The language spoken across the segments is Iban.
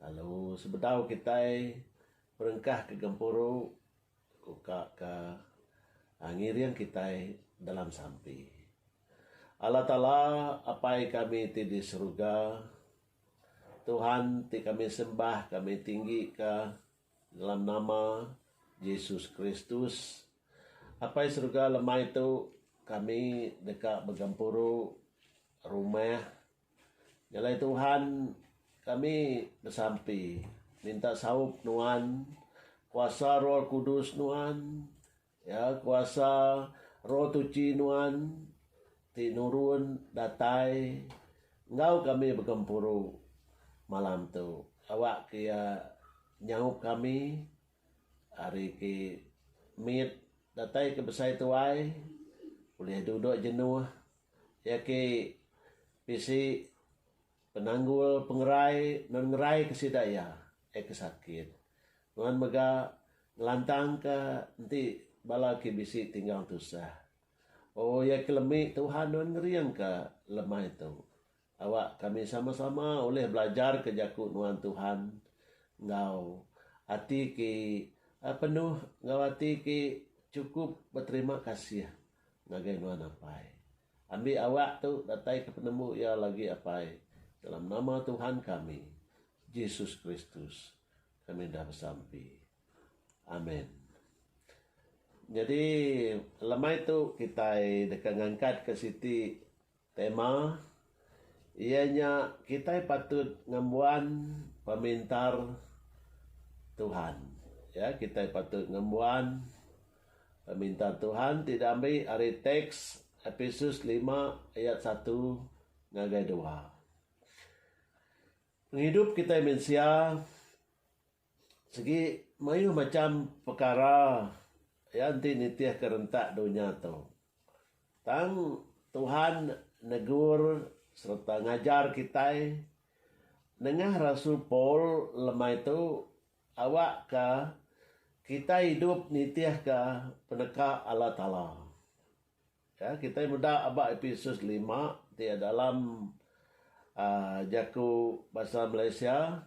Lalu sebedau kitai perengkahka gempuru, uka ka ngiring kitai dalam sampi. Allah Taala, Apai kami ti di seruga, Tuhan ti kami sembah, kami tinggi ka dalam nama Jesus Kristus. Apai seruga lemai tu kami deka begempuru rumah Jalai Tuhan kami besampi minta saup nuan kuasa roh kudus nuan ya kuasa roh tuchi nuan ti nurun datai enggau kami begempuru malam tu awak ke iya nyaup kami ari ke mit datai ke besai tuai ulih dudok jenuh. Iya ke bisi penanggul pengerai nan ngeraika sida iya iya ke sakit nuan mega ngelantangka enti bala ke bisi tinggal tusah. Oh iya ke lemi Tuhan nuan ngeringka lemai tu. Awak kami sama-sama ulih belajarka Jaku nuan Tuhan enggau ati ti penuh enggau ati ti chukup beterima kasih ngagai nuan Apai. Ambi awak tu dataika penemu iya lagi Apai, dalam nama Tuhan kami, Jesus Kristus, kami enda besampi. Amen. Nyadi lemai tu kitai deka ngangkatka siti. Tema iya nya kitai patut ngembuan pemintar Tuhan. Ya, kitai patut ngembuan pemintar Tuhan ti diambi ari teks Epesus lima ayat satu ngagai dua. Pengidup kitai mensia Sigi mayuh macham pekara iya enti nitihka rentak dunya tu. Tang Tuhan negur sereta ngajar kitai nengah rasul Paul lemai tu awakka kitai idup nitihka peneka Allah Taala. Ya, kitai meda aba Episus lima ti dalam aaa jaku basa Malaysia.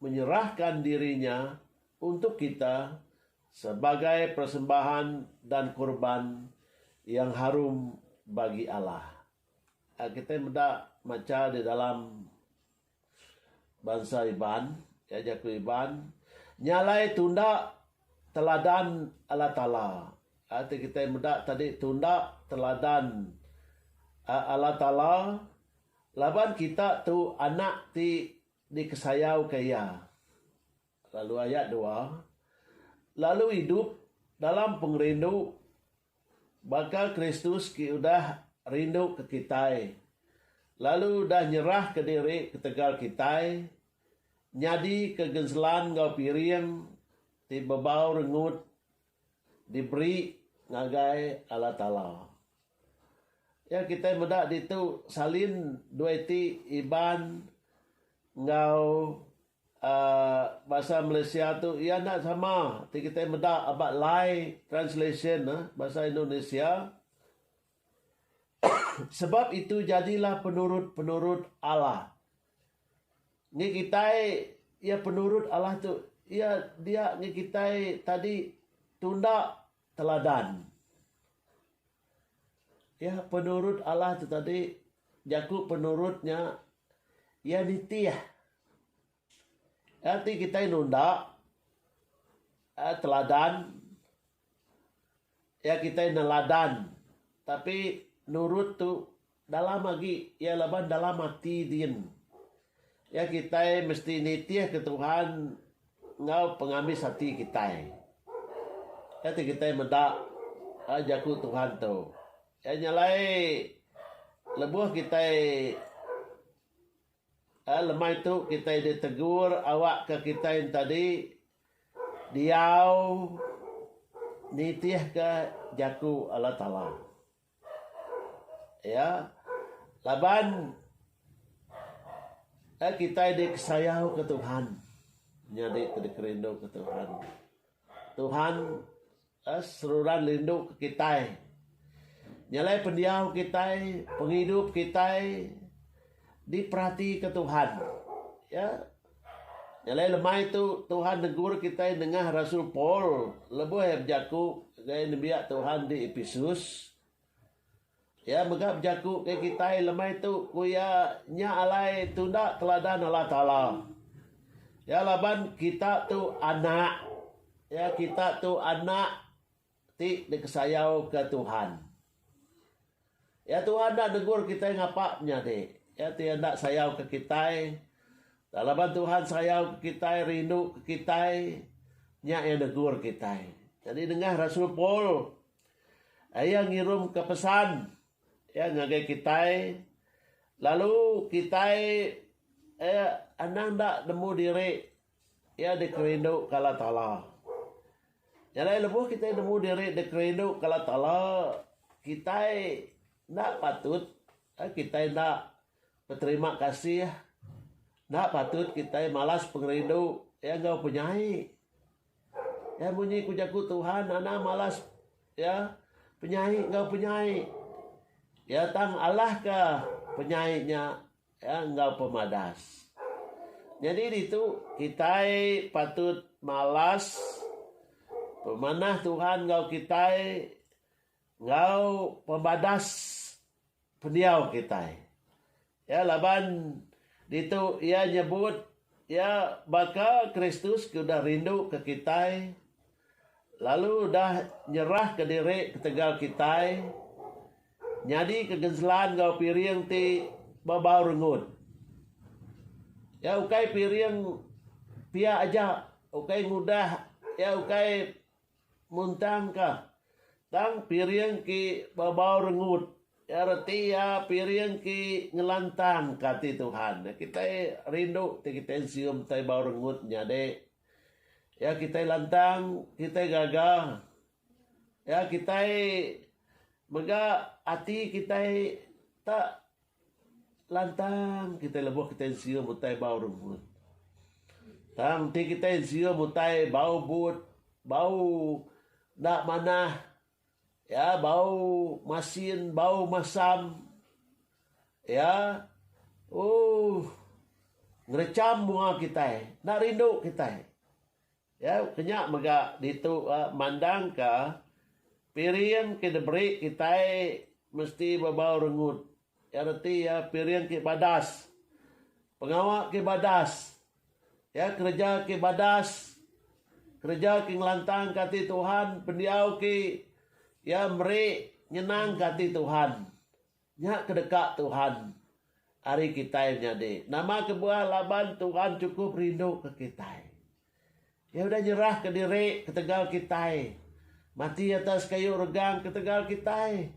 menyerahkan diri nya untuk kita sebagai persembahan dan kurban yang harum bagi Allah. A Kitai meda macha di dalam bansa Iban, ya jaku Iban, nya alai tunda teladan Allah Taala. A Ti kitai meda tadi tunda teladan a Allah Taala laban kita tu anak ti Dikesayauka iya. Lalu ayat dua, lalu idup dalam pengerindu baka Kristus ke udah rinduka kitai lalu udah nyerahka diri ketegal kitai nyadika genselan enggau piring ti bebau rengut diberi ngagai Allah Taala. Iya kitai meda ditu salin dua iti Iban enggau aaa bahasa Malaysia tu iya enda sama ti kitai meda aba lai translation ne bahasa Indonesia sebab itu jadilah penurut-penurut Allah. Ngi kitai iya penurut Allah tu iya dia ngi kitai tadi tunda teladan. Iya penurut Allah tu tadi jaku penurut nya iya nitih. Nya ti kitai nunda teladan. Iya kitai neladan tapi nurut tu dalam agi iya laban dalam ati din. Iya kitai mesti nitihka Tuhan enggau pengambis ati kitai. Iya ti kitai meda ai jaku Tuhan tu. Iya nya alai lebuh kitai Lemai tu kitai ditegur awak ke kitai entadi diau nitih ke jaku Allah Taala. Iya laban kitai dikesayau ke Tuhan nyadi ke dikerindu ke Tuhan. Tuhan seruran rinduka kitai. Nyelai pendiau kitai, pengidup kitai diperatika Tuhan. Ya. Nyelai lemai tu Tuhan negur kitai nengah rasul Paul lebuh iya bejaku ngagai nembiak Tuhan di Epesus. Iya mega bejaku ke kitai lemai tu ku iya nya alai tunda teladan Allah Taala. Iya laban kita tu anak iya kita tu anak ti dikesayauka Tuhan. Iya Tuhan enda negur kitai ngapa menyadi. Iya ti enda sayauka kitai laban Tuhan sayauka kitai rinduka kitai nya iya negur kitai. Jadi nengah rasul Paul Iya ngirumka pesan Iya ngagai kitai, lalu kitai Iya anang enda nemu diri Iya dikerinduka Allah Taala. Nyadai lebuh kitai nemu diri dikerinduka Allah Taala, kitai enda patut eh kitai enda beterima kasih, enda patut kitai malas pengerindu Iya enggau penyai. Iya munyi ku jaku Tuhan, Anang malas iya penyai enggau penyai. Iya tang alahka penyai nya iya enggau pemadas. Nyadi ditu, kitai patut malas pemanah Tuhan enggau kitai enggau pemadas pendiau kitai. Ya laban ditu iya nyebut iya baka Kristus ke udah rinduka kitai lalu udah nyerahka diri ketegal kitai nyadika genselan enggau piring ti bebau rengut. Iya ukai piring pia aja, ukai ngudah, iya ukai Muntang ka. Tang piring ki babau rengut. Ya reti ya piring ki ngelantang ka ati Tuhan. Ya kitai rindu ti kitai nsium tai bau rengut nyadi. Ya kitai lantang, kitai gaga. Ya kitai mega ati kitai tak Lantang kitai lebuh kitai nsium utai bau rebut. Tang enti kitai nsium utai bau but, bau enda manah, iya bau masin, bau masam, iya ooh ngerecham bunga kitai, enda rindu kitai. Iya kenya mega ditu mandangka piring ke diberi kitai mesti bebau rengut. Iya reti iya piring ke badas, pengawa ke badas, iya kereja ke badas, kereja ke ngelantangka ati Tuhan pendiau ke iya meri nyenangka ati Tuhan. Nya ke deka Tuhan ari kitai nyadi. Nama kebuah laban Tuhan chukup rinduka kitai. Iya udah nyerahka diri ketegal kitai, mati atas kayu regang ketegal kitai.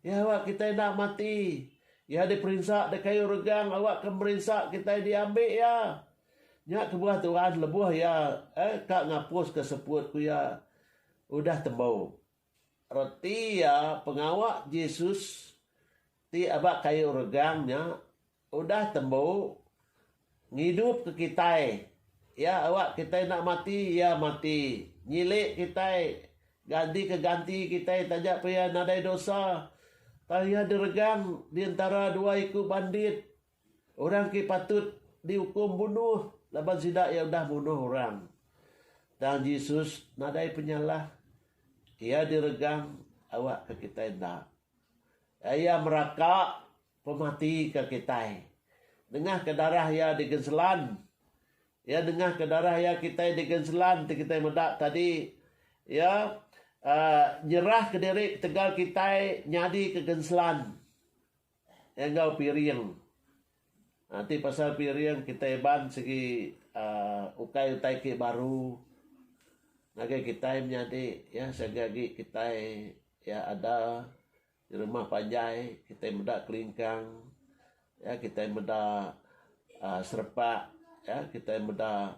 Iya awak kitai enda mati. Iya diperinsa di kayu regang awakka merinsa kitai diambi Iya. Nya kebuah Tuhan lebuh Iya, eh, ka ngapuska seput ku Iya udah tembu. Reti iya pengawa Jesus ti aba kayu regang nya udah tembu ngidupka kitai. Iya awa kitai enda mati, iya mati nyilik kitai, gantika ganti kitai taja pia nadai dosa. Tang iya diregang di entara dua iku bandit Orang ti patut diukum bunuh laban sida iya udah munuh orang. Tang Jesus nadai penyalah. Iya diregang awakka kitai enda. Iya meraka pematika kitai. Nengahka darah iya digenselan. Iya nengahka darah iya kitai digenselan ti kitai meda tadi. Iya uhh nyerahka diri ketegal kitai nyadika genselan. Enggau piring. Ti pasal piring kitai iban sigi uhh ukai utai ti baru ngagai kitai menyadi iya siaga agi kitai iya ada rumah panjai kitai meda kelingkang kitai meda serempak kitai meda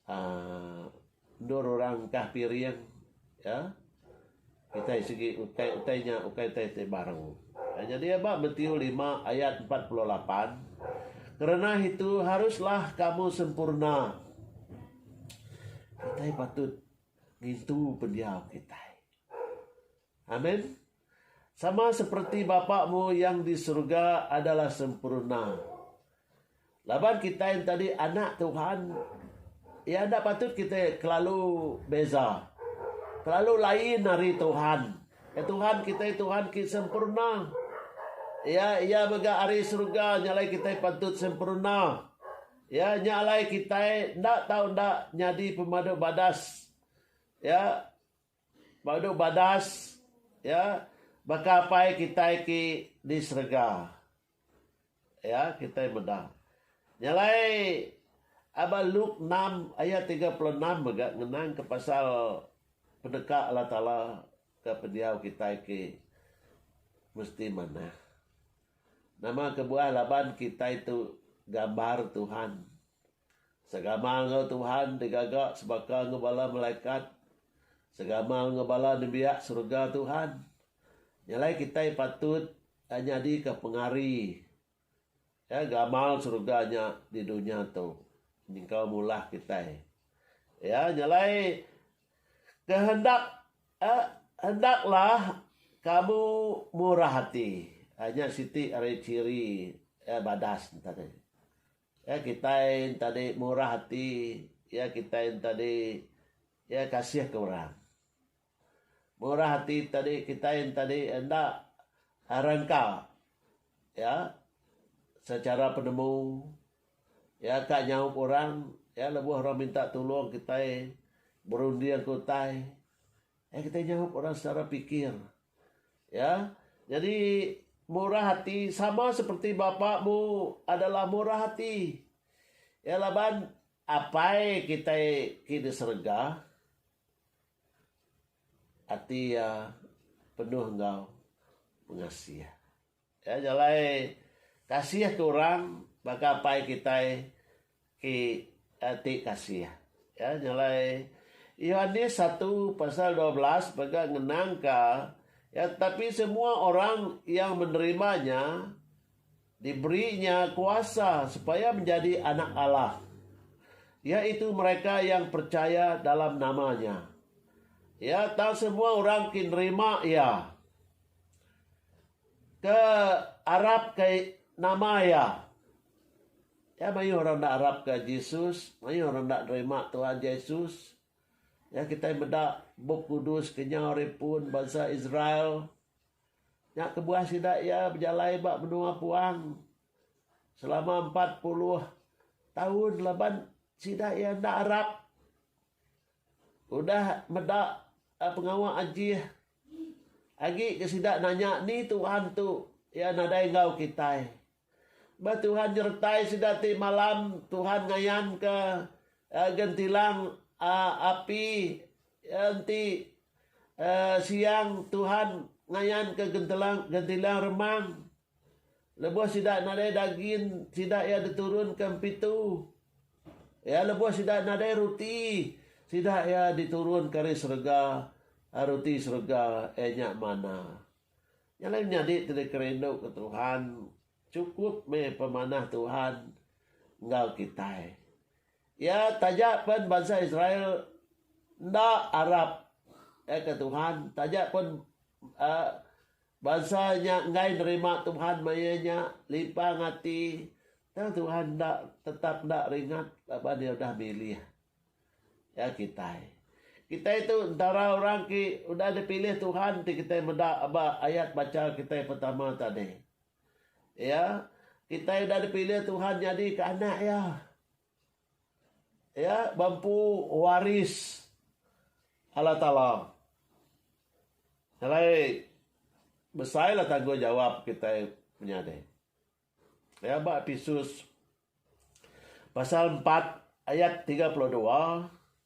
Aaa endur orang engkah piring iya kitai sigi utai-utai nya ukai utai ti barang. Nyadi ba Matiu lima ayat empat puluh lapan, Kerenah itu haruslah kamu sempurna. Kitai patut ngintu pendiau kitai. Amen. Sama seperti Bapa-Mu yang di surga adalah sempurna. Laban kitai entadi anak Tuhan, iya enda patut kitai kelalu beza. Kelalu lain ari Tuhan. Ke Tuhan kitai Tuhan ki sempurna. Iya iya mega ari surga nya alai kitai patut sempurna. Iya nya alai kitai enda tau enda nyadi pemadu badas. Iya. Badu badas ya baka apai kitai ti di serega ya kitai meda nya alai aba luk enam ayat tiga puluh enam mega ngenang ka pasal peneka Allah taala ka pendiau kitai ti mesti manah nama kebuah laban kitai tu gambar Tuhan. Segama enggau Tuhan digaga sebaka enggau bala malaikat, segama enggau bala nembiak serega Tuhan. Nya alai kitai patut nyadika pengari ya gamal serega nya di dunya tu nyengkaum ngulah kitai. Ya nya alai kehendak eh hendaklah kamu murah ati. Nya siti ari ciri eh badas enta deh. Ya kitai enta di murah ati ya kitai enta di ya kasih ke orang. Murah ati tadi kitai enta di enda rangka ya secara penemu ya ka nyaup orang ya lebuh orang minta tulung kitai berunding ke utai. Ai kitai nyaup orang setara pikir. Ya, nyadi murah ati sama seperti Bapa mu adalah murah ati. Ya laban Apai kitai ke di serega ati iya penuh enggau pengasih. Ka jalai kasih ke orang baka Apai kitai ke ati kasih. Ka jalai Yohanes satu pasal dua belas mega ngenangka iya tapi semua orang yang menerima nya diberi nya kuasa supaya menjadi anak Allah iaitu mereka yang percaya dalam nama nya. Iya tau semua orang ke nerima iya. Ke arap ke nama iya. Iya mayuh orang enda arap ke Jesus, mayuh orang enda nerima Tuhan Jesus. Iya kitai meda Bup Kudus ke nyau ari pun bansa Israel. Nya kebuah sida iya bejalai ba menua puang selama empat puluh taun laban sida iya enda arap. Udah meda pengawa ajih. Agi ke sida nanya ni Tuhan tu Iya nadai enggau kitai. Ba Tuhan nyertai sida ti malam Tuhan ngayanka gentilang api enti siang Tuhan ngayanka gentilang remang. Lebuh sida nadai dagin, sida iya diturunka empitu. Iya lebuh sida nadai ruti, sida iya diturunka ari serega, ruti serega iya nya manna. Nya alai nyadi ti deka rindu ke Tuhan, chukup meh pemanah Tuhan enggau kitai. Iya taja pen bansa Israel enda arap ke Tuhan, taja pen uhh. Bansa nya enggai nerima Tuhan maya nya lipang ati tang Tuhan enda tetap enda ringat laban Iya udah milih iya kitai. Kitai tu entara orang ke udah dipilih Tuhan ti kitai meda aba ayat bacha kitai pertama tadi. Iya, kitai udah dipilih Tuhan nyadika anak Iya. Iya ba empu waris Allah Taala. Alai besailah tanggungjawap kitai menyadi. Iya ba Episus pasal empat ayat tiga puluh dua.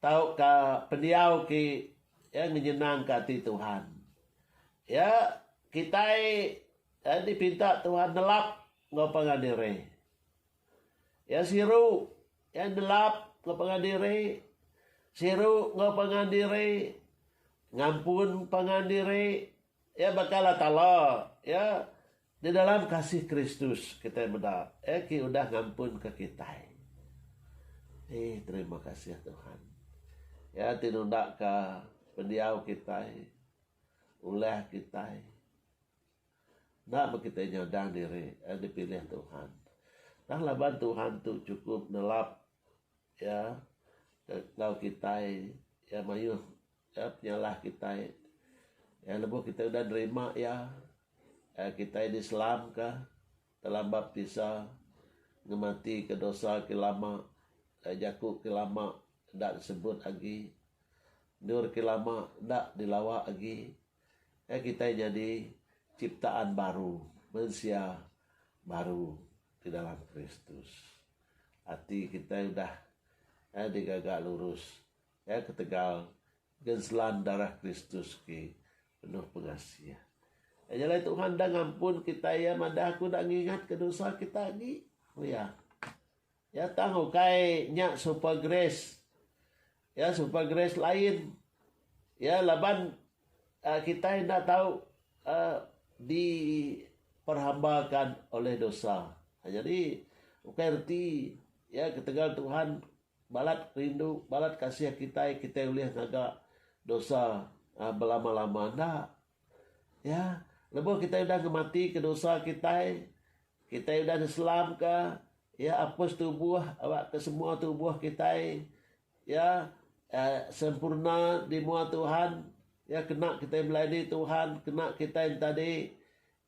Tauka pendiau ke iya ngenyenangka ati Tuhan. Iya kitai iya dipinta Tuhan nelap enggau pangan diri. Iya siru iya nelap enggau pangan diri, siru enggau pangan diri, ngampun pangan diri. Iya baka Allah Taala, iya. Di dalam kasih Kristus kitai meda Iya ke udah ngampunka kitai. Eeh terima kasih Tuhan. Iya ti nundaka pendiau kitai, ulah kitai. Enda meh kitai nyadang diri Iya dipilih Tuhan. Tang laban Tuhan tu chukup nelap Iya enggau kitai, Iya mayuh Iya penyalah kitai. Iya lebuh kitai udah nerima Iya, kitai diselamka dalam baptisa ngematika dosa ti lama, jaku ti lama enda disebut agi, endur ti lama enda dilawa agi. Iya kitai nyadi chiptaan baru, mensia baru ti dalam Kristus. Ati kitai udah digaga lurus. Iya ketegal ngenselan darah Kristus ti penuh pengasih. Nya alai Tuhan enda ngampun kitai iya madah aku enda ngingatka dosa kita agi, ku iya. Iya tang ukai nya super grace. Iya super grace lain. Iya laban aaa kitai enda tau aaa diperhambakan oleh dosa. Jadi ukai reti iya ketegal Tuhan Balat rindu, balat kasih kitai, kitai ulih ngaga dosa belama-lama enda. Ya, lebuh kitai udah ngematika dosa kitai, kitai udah diselamka, ya, apus tubuh, aba ke semua tubuh kitai, ya, sempurna di mua Tuhan, ya, kena kitai melayani Tuhan, kena kitai enti tadi.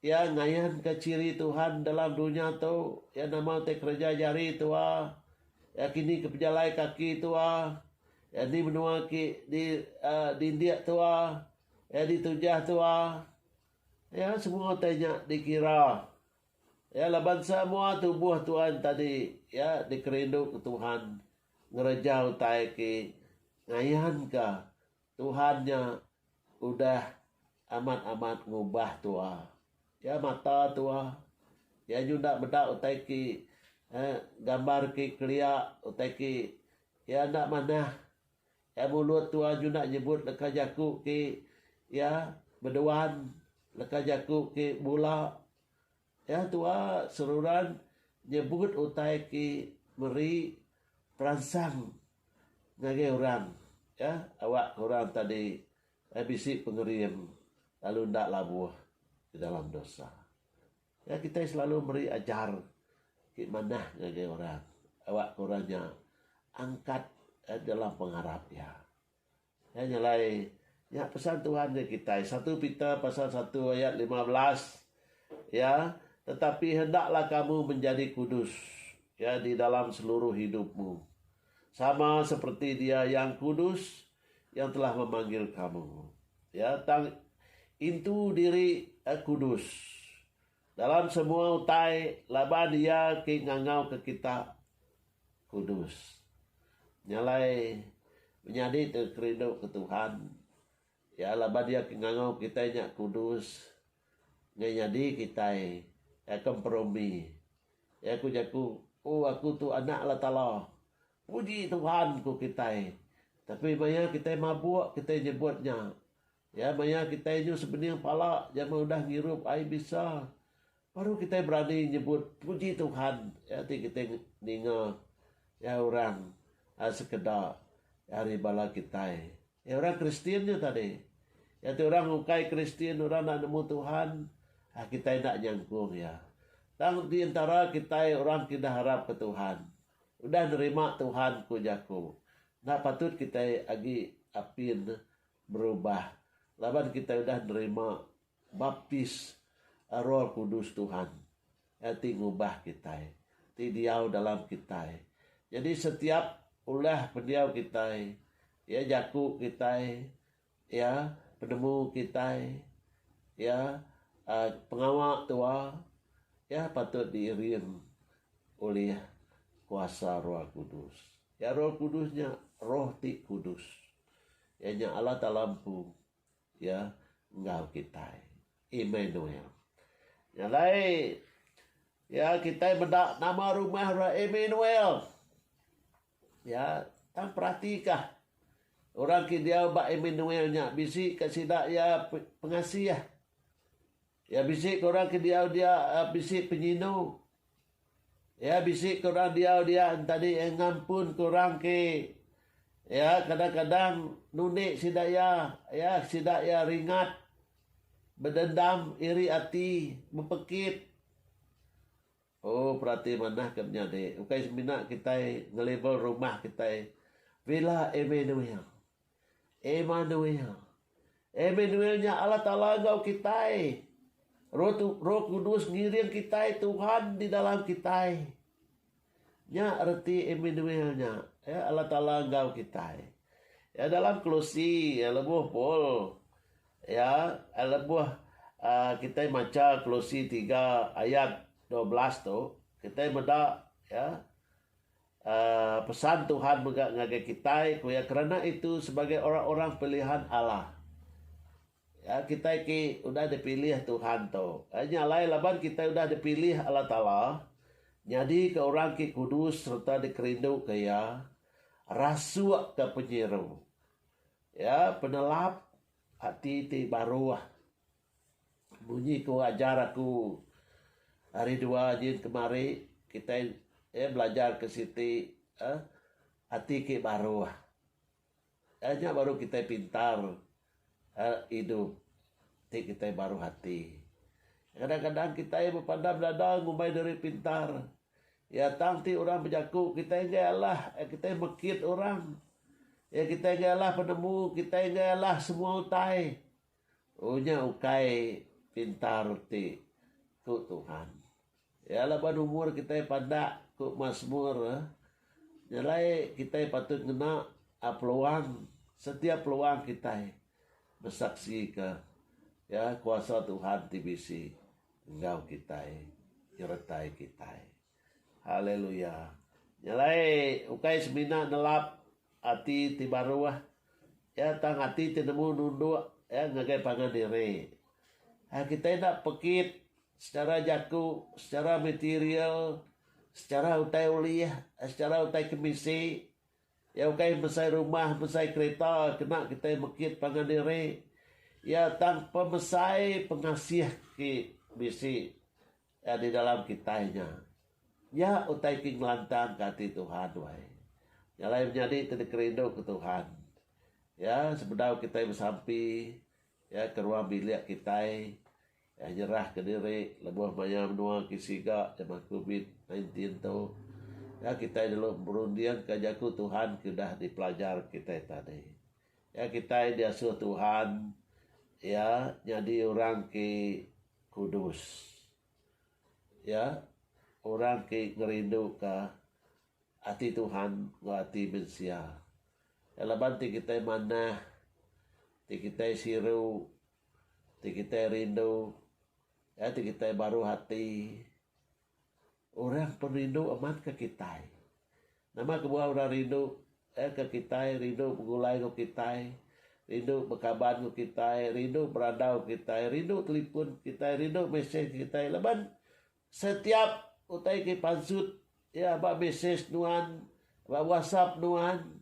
Iya ngayanka chiri Tuhan dalam dunya tu, iya nama utai kereja jari tua, iya kini ke pejalai kaki tua, iya ni menua ki di aa dindik tua, iya di tujah tua. Iya semua utai nya dikira iya laban semua tubuh Tuhan tadi iya dikerinduka Tuhan ngereja utai ki ngayanka Tuhan nya udah amat-amat ngubah tua. Iya mata tua. Iya nyuda meda utai ki eh gambar ki kelia utai ki iya enda manah. Iya mulut tua nyuda nyebut leka jaku ki iya beduan leka jaku ki bula. Iya tua seruran nyebut utai ti meri peransang ngagai orang iya awak ke orang tadi bisi pengering lalu enda labuh di dalam dosa. Iya kitai selalu meri ajar ti manah ngagai orang awak ke orang nya angkat dalam pengarap iya. Nya nyelai. Nya pesan Tuhan enggau kitai. Satu Peter pasal satu ayat lima belas, ya, Tetapi hendaklah kamu menjadi kudus, ya, di dalam seluruh idupmu, sama seperti Dia yang kudus yang telah memanggil kamu, ya, tang intu diri kudus. Dalam semua utai laban Iya ti ngangauka kita kudus. Nya alai menyadi tu kerinduka Tuhan iya laban Iya ke ngangau kitai nya kudus nggai nyadi kitai Iya ke emperumi. Iya ku jaku, O aku tu anak Allah Taala. Puji Tuhan, ku kitai. Tapi maya kitai mabuk kitai nyebut nya. Iya maya kitai inyu sebening pala jama udah ngirup ai bisa, baru kitai berani nyebut puji Tuhan iya ti kitai ninga iya orang sekeda ari bala kitai. Iya orang Kristian nya tadi. Iya ti orang ukai Kristian orang enda nemu Tuhan, kitai enda nyangkung iya. Tang di entara kitai orang ti dah arapka Tuhan, udah nerima Tuhan ku jaku, enda patut kitai agi apin. Berubah laban kitai udah nerima baptis Roh Kudus Tuhan. Iya ti ngubah kitai, ti diau dalam kitai. Nyadi setiap ulah pendiau kitai, iya jaku kitai, iya penemu kitai, iya uhh pengawa tua, iya patut diiring ulih kuasa Roh Kudus. Iya Roh Kudus nya Roh ti kudus. Iya nya Allah Taala Empu iya enggau kitai. Immanuel. Nya alai iya kitai meda nama rumah re Immanuel. Iya tang peratika orang ke diau ba Immanuel nya bisi ka sida iya pengasih. Iya bisi ke orang ke diau dia bisi penyindu. Iya bisi ke orang diau dia entadi iya ngampunka orang ke iya kadang-kadang nundi sida iya, iya sida iya ringat, bedendam, iri ati, bepekit. Oh, perati manah ke menyadi. Ukai semina kitai ngelabel rumah kitai Villa Emmanuel. Emanuel. Emanuel nya Allah Taala enggau kitai. Roh Roh Kudus ngiring kitai Tuhan di dalam kitai. Nya reti Emanuel nya. Ya, Allah Taala enggau kitai. Ya dalam Kolosi ya lebuh Paul ya lebuh uh, kitai maca Kolosi 3 ayat 12 tu, kitai meda ya A Pesan Tuhan mega ngagai kitai, ku iya, kerana itu sebagai orang-orang pilihan Allah. Ya, kitai ti udah dipilih Tuhan tu. A Nya alai laban kitai udah dipilih Allah Taala nyadika orang ti kudus sereta dikerinduka Iya, rasukka penyiru, ya, penelap ati ti baruh. Munyi ku ajar aku hari dua nyin kemari kitai eh belajar ke siti eh ati ke baruh. Eh nya baru kitai pintar eh idup ti kitai baruh ati. Kadang kadang kitai bepandam dada ngumbai diri pintar iya tang ti orang bejaku kitai enggai alah eh kitai mekit orang. Eh kitai enggai alah penemu, kitai enggai alah semua utai. Oh nya ukai pintar ti, ku Tuhan. Iya laban umur kitai pandak, ku Masmur. Nya alai kitai patut ngena peluang setiap peluang kitai besaksika kuasa Tuhan ti bisi enggau kitai, nyertai kitai. Haleluya. Nya alai ukai semina nelap ati ti baru ah ya tang ati ti nemu nunduk ya ngagai pangan diri. Ai kitai enda pekit secara jaku, secara material, secara utai ulih, secara utai kemisi ya ukai mesai rumah, mesai kereta kena kitai mekit pangan diri ya tang pemesai pengasih ti bisi. Nya di dalam kitai nya. Nya utai ti ngelantangka ati Tuhan wai. Nya alai menyadi ti dikerinduka Tuhan. Ya, sebedau kitai besampi, ya, ke ruang bilik kitai, ya, nyerahka diri lebuh maya menua ke siga jeman covid nineteen tu, ya, kitai dulu berundingka jaku Tuhan ke udah dipelajar kitai tadi. Iya kitai diasuh Tuhan iya nyadi orang ti kudus. Iya orang ti ngerinduka ati Tuhan enggau ati mensia. Iya laban ti kitai manah, ti kitai siru, ti kitai rindu, iya ti kitai baruh ati Orang pun rindu amat ke kitai. Nama kebuah orang rindu eh ke kitai, rindu begulai enggau kitai, rindu bekaban enggau kitai, rindu berandau kitai, rindu telipun kitai, rindu mesej kitai laban setiap utai ke pansut iya ba mesej nuan, ba whatsapp nuan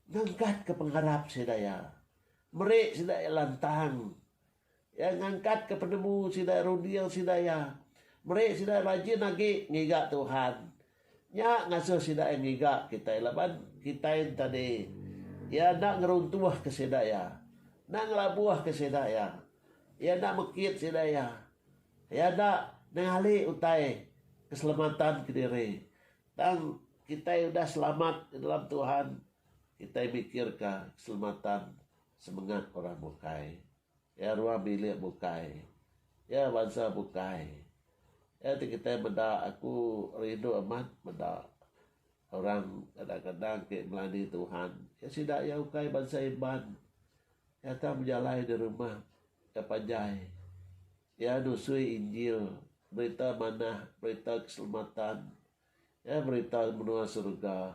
nengkatka pengarap sida iya. Meri sida iya lantang Iya ngangkatka penemu sida runding sida iya, meri sida rajin agi ngiga Tuhan. Nya ngasuh sida iya ngiga kitai laban kitai enti di Iya enda ngeruntuhka sida iya, enda ngelabuhka sida iya. Iya enda mekit sida iya. Iya enda nenggali utai keselamatan kediri. Tang kitai udah selamat di dalam Tuhan, kitai mikirka keselamatan Semengat orang bukai. Iya ruang bilik bukai. Iya bansa bukai. Iya ti kitai meda aku rindu amat meda orang kadang-kadang ti melani Tuhan. Iya sida iya ukai bansa Iban. Iya tang bejalai di rumah ke panjai. Iya nusui Injil, berita manah, berita keselamatan. Iya berita menua surga.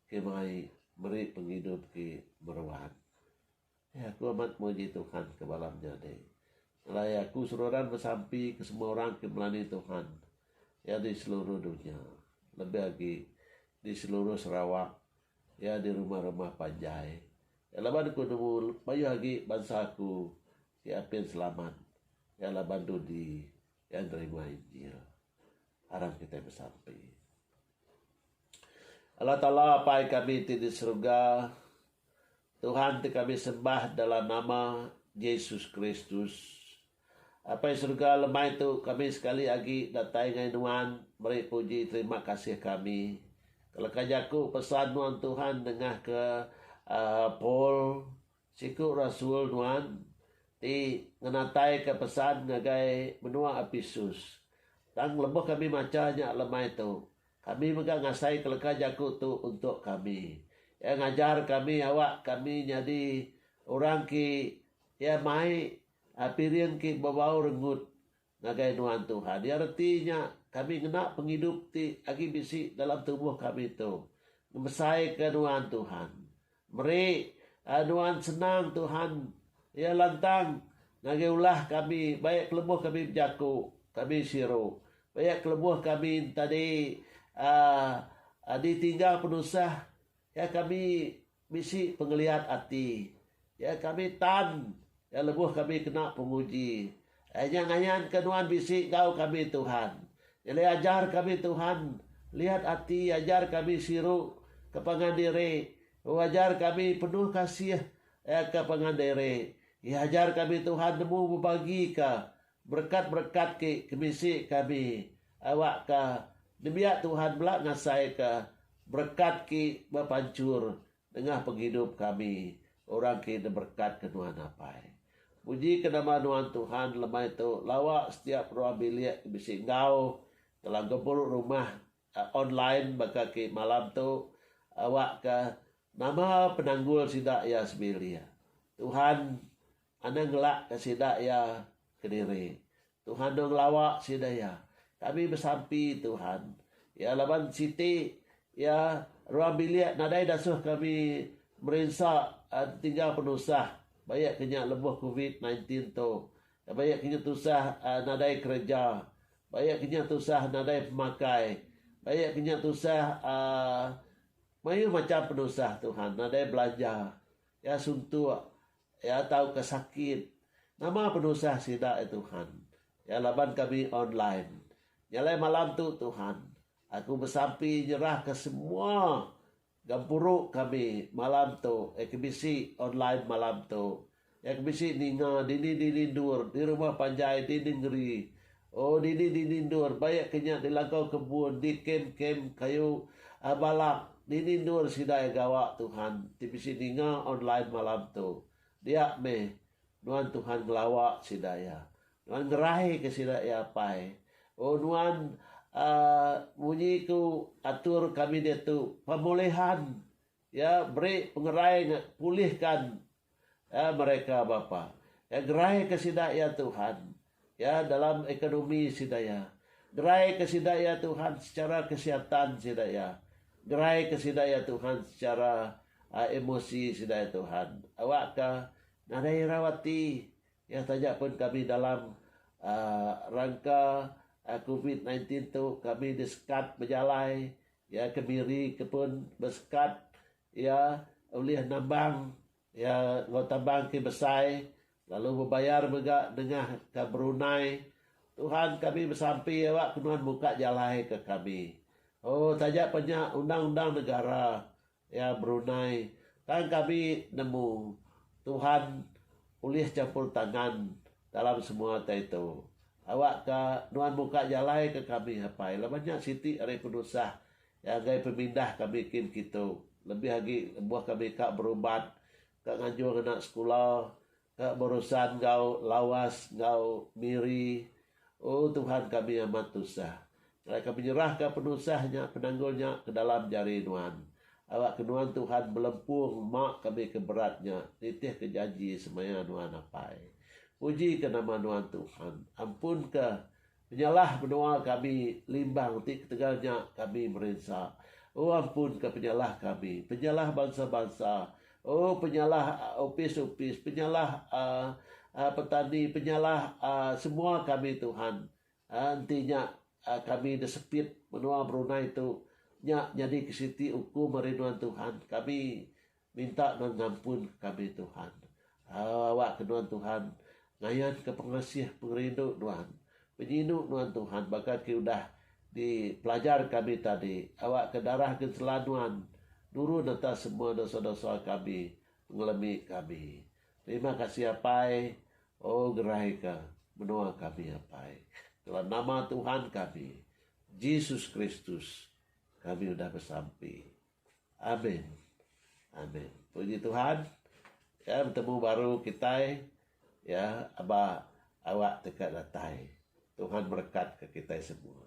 ke mai meri pengidup ke meruan. Ai aku amat muji Tuhan ke bala menyadi. Alai aku seruran besampi ke semua orang ke melani Tuhan iya di seluruh dunya lebih agi di seluruh Sarawak iya di rumah-rumah panjai iya laban aku nemu mayuh agi bansa aku ti apin selamat iya laban dudi iya nerima injil. aram kitai besampi. Allah Taala Apai kami ti di seruga, Tuhan ti kami sembah dalam nama Jesus Kristus. Apai seruga lemai tu kami sekali agi datai ngai nuan meri puji terima kasih kami keleka jaku pesan nuan Tuhan nengah ke uh, Paul Siku rasul nuan ti ngenataika pesan ngagai menua Epesus. Tang lebuh kami macha nya lemai tu, kami mega ngasaika leka jaku tu untuk kami. Iya ngajar kami awak kami nyadi orang ki iya mai piring ki bebau rengut Ngagai nuan Tuhan iya reti nya kami ngena pengidup ti agi bisi dalam tubuh kami tu ngebesaika nuan Tuhan. Meri nuan senang Tuhan iya lantang ngagai ulah kami ba iya kelebuh kami bejaku kami siru ba iya kelebuh kami ntadi uhh ditinggal penusah iya kami Bisi pengeliat ati. Ya kami tan ya lebuh kami kena penguji. Ai nya ngayanka nuan bisi enggau kami Tuhan. Nyadi ajar kami Tuhan liat ati ajar kami siru ke pangan diri. Hu ajar kami penuh kasih ya ke pangan diri. Iya ajar kami Tuhan nemu bebagika Berekat-berekat ti ke bisi kami awakka nembiak Tuhan bela ngasaika berekat ki bepanchur nengah pengidup kami orang ki deberekat-Ke nuan apai. Pujika nama nuan Tuhan lemai tu lawa setiap ruang bilik ke bisi enggau telah gempuru rumah Online baka ke malam tu awakka nama penanggul sida iya sebilik. Tuhan enda ngelakka sida iya kediri. Tuhan enda ngelawa sida iya. Kami besampi Tuhan iya laban siti iya ruang bilik nadai dasuh kami merinsa entingga penusah ba iya ke nya lebuh covid nineteen tu Ba iya kinya tusah nadai kereja. Ba iya kinya tusah nadai pemakai. Ba iya kinya tusah mayuh macham penusah Tuhan. Nadai belanja. Iya suntuk. Iya tauka sakit. Nama penusah sida, ya Tuhan. Ya laban kami online. Nya alai malam tu, Tuhan, aku besampi nyerahka semua. Gempuru kami malam tu iya ke bisi online malam tu iya ke bisi ninga dini dini endur di rumah panjai di nengeri oh dini dini endur ba iya ke nya di langkau kebun di kem kem kayu a balak dini endur sida iya gawa Tuhan ti bisi ninga online malam tu dia meh nuan Tuhan ngelawa sida iya. Nuan ngerai ke sida iya apai. Oh nuan uhh munyi ku atur kami diatu pemulihan iya beri pengerai nya pulihkan iya mereka bapa iya gerai ke sida iya tuhan iya dalam ekonomi sida iya gerai ke sida iya tuhan secara kesihatan sida iya gerai ke sida iya tuhan secara uhh emosi sida iya tuhan awak ka nadai ira ati Nya taja pun kami dalam rangka covid sembilan belas tu kami disekat bejalai iya ke Miri ke pun besekat iya ulih nambang iya enggau tambang ti besai lalu bebayar mega nengah ka Brunei. Tuhan kami besampi aba ke nuan muka jalai ke kami. Oh taja pa nya undang-undang negara. Iya berundai, Tang kami nemu Tuhan ulih champur tangan dalam semua tai tu. Awakka nuan muka jalai ke kami apai laban nya siti ari penusah iya ngagai pemindah kami kin kitu lebih agi lebuh kami ka berubat, ka nganjung anak sekula, Ka berusan enggau lawas enggau Miri, O Tuhan kami amat tusah. Kala kami nyerahka penusah nya, penanggul nya, ke dalam jari nuan. Awakka nuan Tuhan belempung ma kami ke berat nya, nitihka janji semaya nuan apai. Pujika nama nuan Tuhan. Ampunka Penyalah menua kami limbang ti ketegal nya kami merinsa. O ampunka penyalah kami, penyalah bansa-bansa, O penyalah opis-opis, penyalah petani, penyalah semua kami Tuhan. Enti nya kami desepit menua Brunei tu, nya nyadi ke siti ukum ari nuan Tuhan kami. Minta nuan ngampun kami Tuhan. Au awak ke nuan Tuhan ngayan ke pengasih pengerindu nuan. Penyinu nuan Tuhan baka ke udah di pelajar kami tadi awak ke darah gensela nuan nurun atas semua dosa-dosa kami pengelemi kami. Terima kasih Apai. Oh gerai ke menoa kami Apai. Dalam nama Tuhan kami Jesus Kristus kami udah besampi. Amin. Amin. Puji Tuhan. Ya betemu baru kitai ya aba awak teka datai. Tuhan berekatka kitai semua.